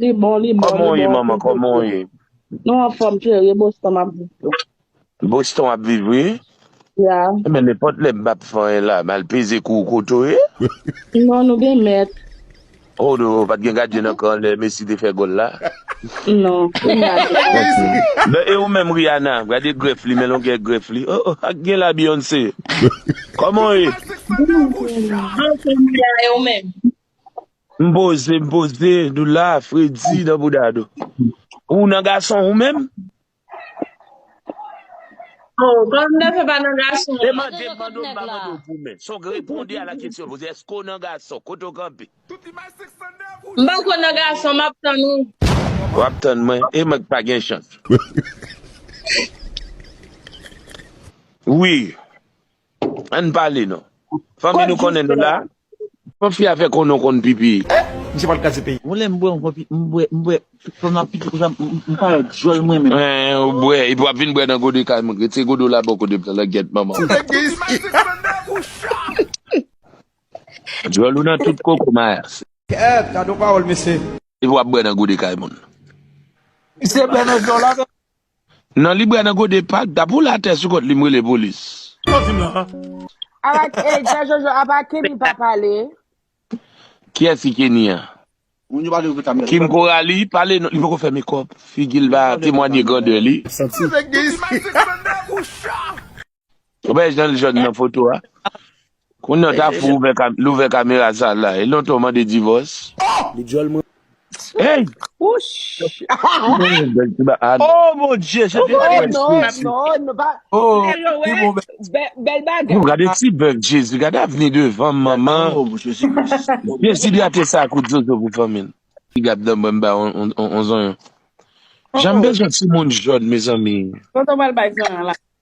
Li bon li bon li bon anpil boston nou anfom chere boston map viv tou. Boston wap viv wi. Yeah. Ebyen nenpòt lè m pap fè anyen la mal peze kou kote w ye. Non nou gen mèt. Oh no pat gen gadyen nan kan lè Messi te fè gòl la. Non kounya gen gadyen. E ou menm Rihanna gade grèf li men longè grèf li oh oh ak gen la Beyoncé. Kòman w ye? Bonswa Rihanna e ou menm? M poze m poze nou la fredi nan bouda nou. Ou nan gason ou menm? Oh, kòm nèg pa nan gason. Demande m mande w m pa mande w pou men. Son reponde a la kesyon m poze. Eske w nan gason? Kote w kanpe? M pako nan gason m ap tann ou. W ap tann mwen? E mwen k pa gen chans. Wi. Ann pale non. Fanmi nou konnen nou la. Fò fi a fè konnen ou konn pipi. Eh! Misye pral kraze peyi. Bon lè m bwè m konn m bwè m bwè fò m ap pipi konsa m pa wè dyòl mwen menm. Hein ou bwè epi wap vin bwè nan gode kay moun rete gode w la bò kote m langyèt manman w. Sak gen isi. Dyòl ou nan tout koko mayas. Kèèt gadon pawòl mesye. Epi wap bwè nan gode kay moun. Misye bwè nan dyòl la. Nan li bwa nan gode pak da pou latè sou kont li m rele polis. Sa w di m lan an? Ala ey pè jojo apa Kenny pa pale. Kiyès ki Kenny an? Kim Coralie pale non li poko fè mekòp figil pa temwanye grandè li. Santi. Mezanmi Mike Christlander ou chat. Ou wè jan l jòn nan foto a? Kounye a w ta fou l ouvè kamera sa l la. E lontan w mande divòs? Li dyòl man. Hey! Oh mon Dieu! Sa te bèl non! Oh non! Non! Nou pa... Bèl bagay! Nou gade ti bèf Jezi! Gade avni devan m manman! Dezidrate sa ak oud zozo pou fanmi l. Ti gab nan mwen m bay on zonyon. Jan m bezwen timoun jòn mezanmi! Tonton pral bay zonyon la.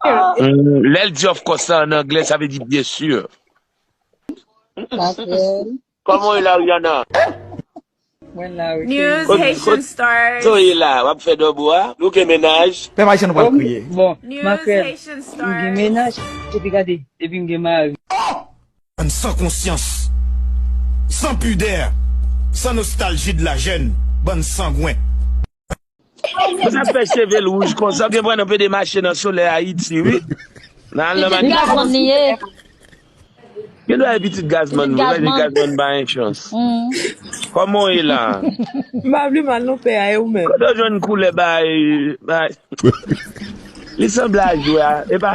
Lè l di of course la an anglè, sa vle di byen sur. Patrèl. Kòman w ye la Rihanna? Mwen la wi News, kenbe. Haitian stars. Kote w ye la? Wap fè dòbo a? Nou gen mennaj? Pèp Ayisyen nou pral kriye. Bon, makrèl, m gen mennaj, epi gade, epi m gen mari. Oh! Bann san konsyans, san pudè, san nostalgie de la jeune, bann sangwen. Pou sa fè cheve l wouj konsa ou gen pran nan pede mache nan solèy ayiti wi nan al nan Pitit Li pa gazman ni ye. santi Gen dwa e pitit Pitit gazman vre paske gazman. gazman pa gen chans Koman w ye la? M pa vle mal non pè a e ou menm? Kote w jwenn koulè bay bay Li sanble a jwè a epa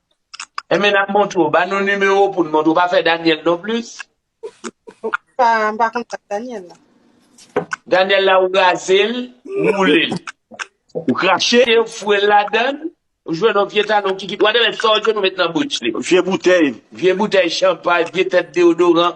Enben nap montre w, ba nou nimewo w pou n montre w, pa fè Daniel non plis. Pa, m pa konn sa Daniel la. Daniel la ou raze l, ou woule l. Ou krache l, ou foure l ladan l, ou jwenn yon vye talon ki kite, whatever, sa w jwenn ou met nan bouch li. Vye boutèy. Vye boutèy chanpay, vye tèt deodoran.